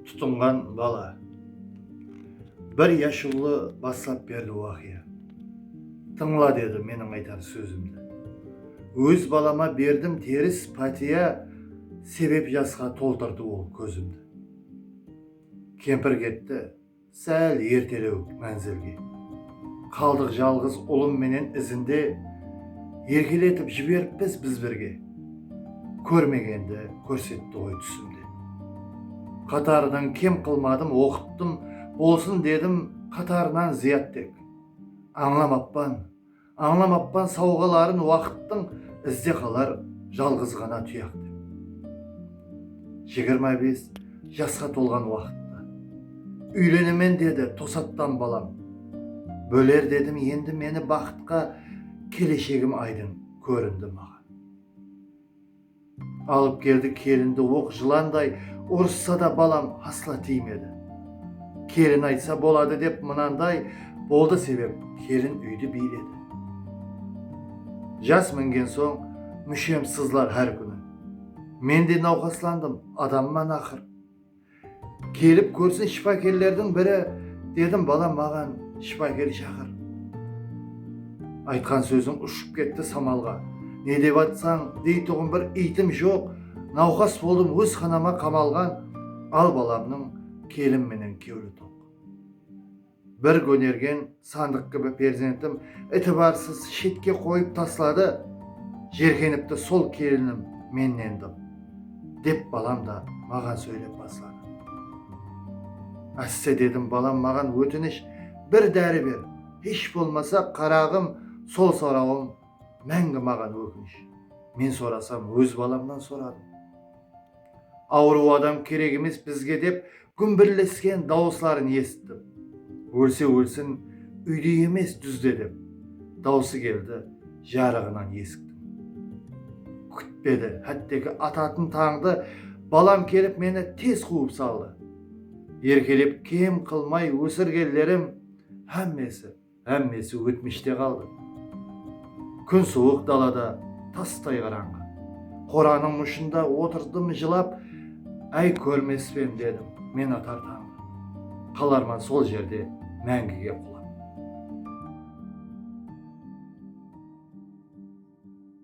Tutınǵan bala. Bir yashıwlı baslap berdi waqıya. Tıńla dedi meniń aytar sózimdi. Óz balama berdim teris pátiya sebep jasqa toltırdı ol kózimdi. Kempir ketti. Sál ertelew mánzilge. Qaldıq jalǵız ulım menen izinde Erkeletip jiberippiz biz birge. Kórmegendi kórsetti ǵoy túsimde. Qatarınan kem qılmadım oqıttım Bolsın dedim qatarınan zıyat tek. Ańlamappan. Ańlamappan sawǵaların waqıttıń izde qalar jalǵız ǵana tuyaq dep. Jigirma bes jasqa tolǵan waqıtta. Úylenemen dedi tosattan balam. Bóler dedim endi meni baxıtqa keleshegim aydın kórindi maǵan. Alıp keldi kelindi oq jılanday urıssa da balam asla tiymedi kelin aytsa boladı dep mınanday boldı sebep kelin úydi biyledi jas mingen soń múshem sızlar hár kúni mende nawqaslandım adamman aqır Kelip kórsin shıpakerlerdiń biri, dedim, balam maǵan shıpaker shaqır. Aytqan sóziń ushıp ketti samalǵa. Ne dep atsań, deytuǵın bir iytim joq, nawqas boldım óz xanama qamalǵan, al balamnıń kelin menen kewli toq. Bir gónergen sandıq kibi perzentim itibarsız shetke qoyıp tasladı, jerkenipti sol kelinim mennen dım, dep balam da maǵan sóylep basladı. Ásse dedim balam maǵan ótinish bir dári ber, hesh bolmasa qaraǵım sol sorawım máńgi maǵan ókinish, men sorasam óz balamnan soradım. Awırıw adam kerek emes bizge dep Gúmbirlesken dawısların esittim. Ólse ólsin, úyde emes, dúzde dep, dawısı keldi, jarıǵınan esiktin. Kútpedi, hátteki atatın tańdı balam kelip meni tez quwıp saldı. Erkelep kem qılmay ósirgenlerim hámmesi. Hámmesi ótmishte qaldı. Kún suwıq dalada tastay qarańǵı. Qoranıń mushında otırdım jılap, Áy kórmespen dedim men atar tańǵı. Qalarman sol jerde máńgige qulap.